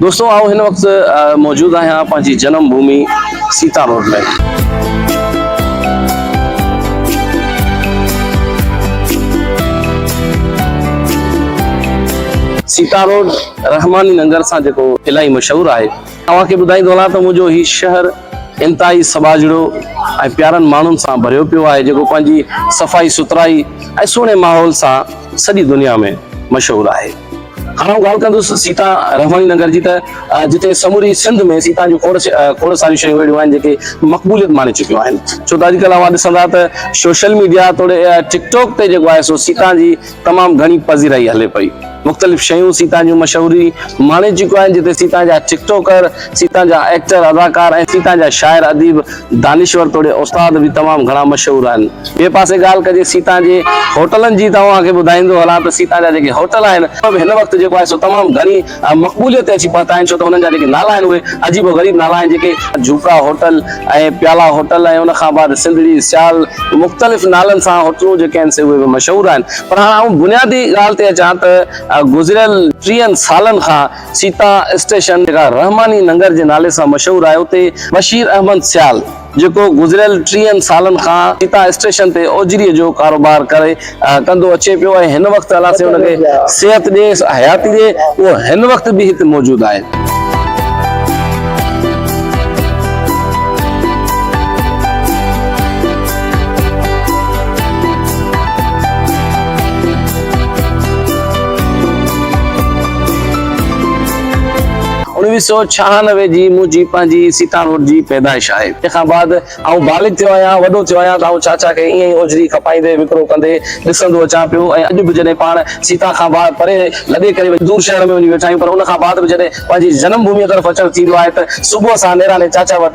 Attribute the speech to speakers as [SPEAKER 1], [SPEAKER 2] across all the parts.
[SPEAKER 1] دوستو آئون هن وقت موجود آهيان پنهنجي جنم ڀومي سيتا روڊ ۾. سيتا روڊ رحماني ننگر سان جيڪو الاهي مشهور آهي. اوهان کي ٻڌائيندو هلان ته منهنجو هي شهر انتهائي سٻاجهڙو ۽ پيارن ماڻهن سان ڀريو پيو آهي جيڪو پنهنجي صفائي سٿرائي ۽ سهڻي ماحول سان سڄي دنيا ۾ مشهور آهي. هاڻ آئون ڳالهه ڪندس سيتا رحماڻي ننگر جي ته جتي سموري سنڌ ۾ سيتا جون کوڙ کوڙ ساريون شيون اهڙيون آهن جيڪي مقبوليت ماڻي چڪيون آهن ڇو ته اڄڪلهه اوهان ڏسندا ته سوشل ميڊيا توڙي ٽڪ ٽاڪ تي جيڪو آهي سو سيتا جي تمام گهڻي پذيرائي هلي پئي مختلف شيون سيتا جون مشهوري ماڻي چڪيون آهن جتي سيتا جا ٽڪ ٽاڪر سيتا جا ايڪٽر اداڪار ۽ سيتا جا شاعر اديب دانشور توڙي استاد به تمام گهڻا مشهور آهن. ٻئي پاسي ڳالهه ڪجي سيتان جي هوٽلن جي ته اوهان کي ٻڌائيندو هلان ته سيتان جا جيڪي هوٽل آهن انهن ۾ هن وقت جيڪو آهي سو تمام گهڻي مقبوليت تي اچي پهتا آهن ڇو ته انهن جا جيڪي نالا آهن اهي عجيب و غريب نالا آهن جيڪي جهوڪا هوٽل ۽ پيالا هوٽل ۽ ان کان بعد سنڌڙي سيال مختلف نالن سان هوٽلون جيڪي آهن سي اهي به مشهور آهن پر هاڻ آئون بنيادي ڳالهه تي اچان ته گذريل ٽيهن سالن کان سيتا اسٽيشن جيڪا رحماني ننگر جي نالي سان مشهور آهي اتي بشير احمد سيال جيڪو گذريل ٽيهن سالن کان سيتا اسٽيشن تي اوجري جو ڪاروبار ڪري ڪندو اچي پيو ۽ هن وقت الله سائين ان کي صحت ڏي حياتي ڏي اهو هن وقت به هتي موجود آهي. اوڻويهه سؤ ڇهانوي جي منهنجي پنهنجي سيتان روڊ جي پيدائش آهي. تنهن کان بعد آئون بالغ ٿيو آهيان، وڏو ٿيو آهيان ته آئون چاچا کي ائين ئي اوجري کپائيندي وڪرو ڪندي ڏسندو اچان پيو ۽ اڄ به جڏهن پاڻ سيتان کان پري لڏي ڪري دور شهر ۾ وڃي ويٺا آهيون پر ان کان بعد به جڏهن پنهنجي جنم ڀوميء طرف اچڻ ٿيندو آهي ته صبح سان نيراني چاچا وٽ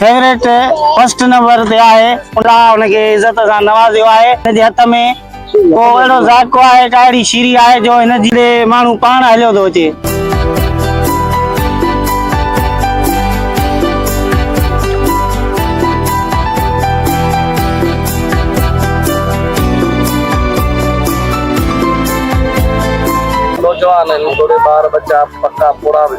[SPEAKER 2] فيورٽ فرسٽ نمبر تي آهي الله ان کي عزت سان نوازيو آهي ان جي هٿ ۾ ڪو اهڙو ذائقو آهي ڪا اهڙي شيري آهي جو هن جهڙي ماڻهو پاڻ هليو ٿو اچي. نوجوان هن توڙي ٻار
[SPEAKER 1] ٻچا پڪا پوڙها به.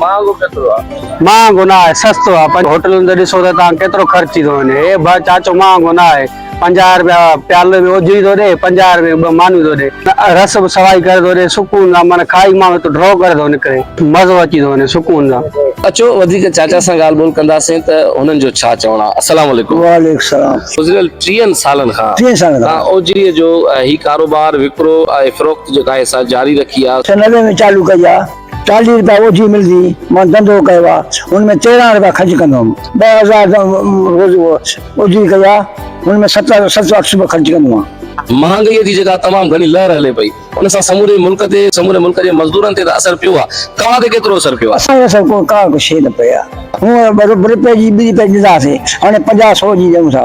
[SPEAKER 1] مهانگو ڪيترو آ. مهانگو نه آهي
[SPEAKER 3] سستو آ پر هوٽلن تي ڏسو ته تان ڪيترو خرچ ٿي ٿو وڃي هي ڀا چاچو مهانگو نه آهي پنجاهه روپيا پيالو ۾ اوجهري ٿو ڏي پنجاهه روپيا ٻه مانيون ٿو ڏي رس به سوائي ڪري ٿو ڏي سڪون سان معنيٰ کائي ماڻهو هتو ڊرو ڪري ٿو نڪري مزو اچي ٿو وڃي سڪون سان. اچو وڌيڪ
[SPEAKER 1] چاچا سان ڳالهه ٻولهه ڪنداسين ته هنن جو ڇا چوڻ آ السلام عليڪم. وعليڪم السلام.
[SPEAKER 4] گذريل ٽيهن
[SPEAKER 1] سالن کان ٽيهن سالن کان تان اوجهري جو هي ڪاروبار وڪرو ۽ فروخت جيڪا آهي سا جاري رکي آ. سنڌ ۾ چالو ڪئي آ.
[SPEAKER 4] چاليهه رپيا اوجهي ملدي هئي، مان ڌنڌو ڪيو آ، هن ۾ تيرهن رپيا خرچ ڪندو هوم، ٻه هزار ته روز اوجهي ڪئي آ، هن ۾ ست سو اٺ رپيا خرچ ڪندو هوم. مهانگائيء جي جيڪا
[SPEAKER 1] تمام گهڻي لهر هلي پئي، ان سان سموري ملڪ تي، سموري ملڪ جي مزدورن تي ته اثر پيو آ، توهان تي ڪيترو اثر پيو آ؟ اسان تي اثر ڪا به
[SPEAKER 4] شيء نه پئي آ، هونء ٻه رپئي جي ٻه رپئي ڏيندا هئاسين، هاڻي پنجاهه سئو جي ڏيون ٿا.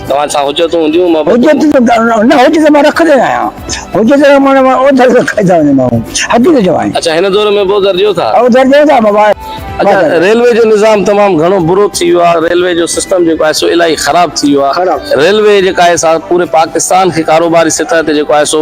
[SPEAKER 4] توهان سان حجتون هونديون
[SPEAKER 1] محبتون. حجت ته
[SPEAKER 4] نه حجت مان رکندو ئي آهيان حجت جو معنيٰ مان اوڌر کائي ٿا وڃون ماڻهو حقيقت جو آهن. اڇا هن دور ۾ به اوڌر
[SPEAKER 1] ڏيو ٿا. اوڌر ڏيون ٿا مبا. اڇا
[SPEAKER 4] ريلوي
[SPEAKER 1] جو نظام تمام گهڻو برو ٿي ويو آهي ريلوي جو سسٽم جيڪو آهي سو الاهي خراب ٿي ويو آهي ريلوي جيڪا آهي سا پوري پاڪستان کي ڪاروباري سطح تي جيڪو آهي سو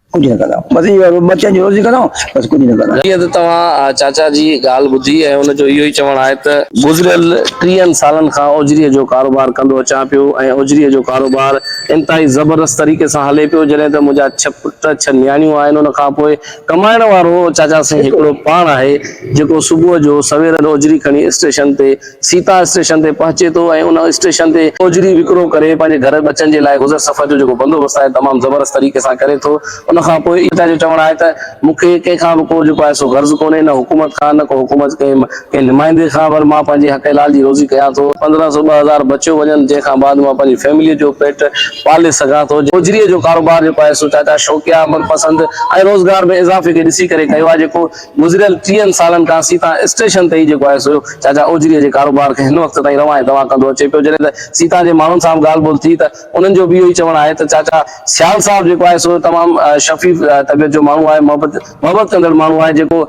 [SPEAKER 1] ڪجهه نه ڪندا
[SPEAKER 4] آهيون. بس اهو آهي ٻه چئن جي روزي ڪندا آهيون بس ڪجهه نه ڪندا آهيون. جيئن ته توهان چاچا
[SPEAKER 1] جي ڳالهه ٻڌي ۽ ان جو اهو ئي چوڻ آهي ته. گذريل ٽيهن سالن کان اجري جو ڪاروبار ڪندو اچان پيو ۽ اجري جو ڪاروبار انتهائي زبردست طريقي سان هلي پيو جڏهن ته منهنجا ڇهه پٽ ڇهه نياڻيون آهن ان کان پوء ڪمائڻ وارو چاچا سائين هڪڙو پاڻ آهي جيڪو صبح جو سوير اجري کڻي اسٽيشن تي سيتا اسٽيشن تي پهچي ٿو ۽ ان اسٽيشن تي هوجري وڪرو ڪري پنهنجي گهر ٻچن جي لاء گذر سفر جو جيڪو بندوبست آهي تمام زبردست طريقي سان ڪري ٿو ان کان پوء سيتا جو چوڻ آهي ته مون کي ڪنهن کان به ڪو جيڪو آهي سو غرض ڪونهي نه حڪومت کان نه ڪو حڪومت جي ڪنهن نمائندي کان پر مان پنهنجي حق حلال جي روزي ڪيان ٿو پندرهن سو ٻه هزار بچيو وڃن جنهن کان بعد مان پنهنجي فيمليء جو پيٽ پالي سگهان ٿو هوجريء جو ڪاروبار جيڪو آهي سو چاچا شوقيا عمل پسند ۽ روزگار ۾ اضافي کي ڏسي ڪري ڪيو آهي جيڪو گذريل ٽيهن سالن کان سيتا اسٽيشن تي ئي جيڪو آهي سو چاچا اوجري جي ڪاروبار کي هن وقت تائين روان ۽ دوان ڪندو اچي پيو. جڏهن ته سيتا جي ماڻهن سان به ڳالهه ٻولهه ٿي ته انهن جو به اهو ئي چوڻ آهي ته چاچا سيال صاحب جيڪو آهي سو تمام شفيف طبيعت جو ماڻهو آهي، محبت محبت ڪندڙ ماڻهو آهي جيڪو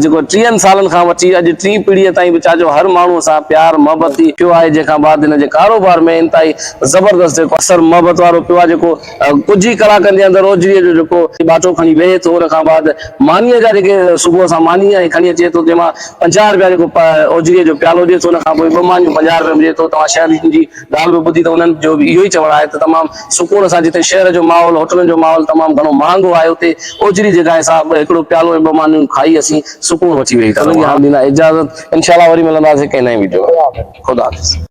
[SPEAKER 1] جيڪو ٽيهن سالن کان وٺي اڄ ٽين پيڙهيء تائين به چاچو هر ماڻهوء سان پيار محبت ٿي پيو آهي جنهن کان بعد هن جي ڪاروبار ۾ انتهائي زبردست جيڪو اثر محبت وارو پيو آهي جيڪو ڪجهه ئي ڪلاڪن جي اندر روجڙي جو جيڪو ٻاٽو کڻي ويهي ٿو ان کان بعد مانيء جا جيڪي صبح سان ماني ۽ کڻي اچي ٿو تنهن مان پنجاهه رپيا جيڪو اوجڙي جو پيالو ڏي ٿو ان کان پوء ٻه مانيون پنجاهه رپين ڏي ٿو توهان شهر جي ڳالهه به ٻڌي ته انهن جو به اهو ئي چوڻ آهي ته تمام سڪون سان جتي شهر جو ماحول هوٽلن جو ماحول تمام گهڻو مهانگو آهي اتي اوجڙي جي گاهه سان هڪڙو پيالو ۽ ٻه مانيون کائي اسين سڪون وٺي ويهي ٿا رهون هاڻ ڏيندا اجازت انشاء الله وري ملنداسين ڪنهن نئين ويڊيو ۾ خدا حافظ.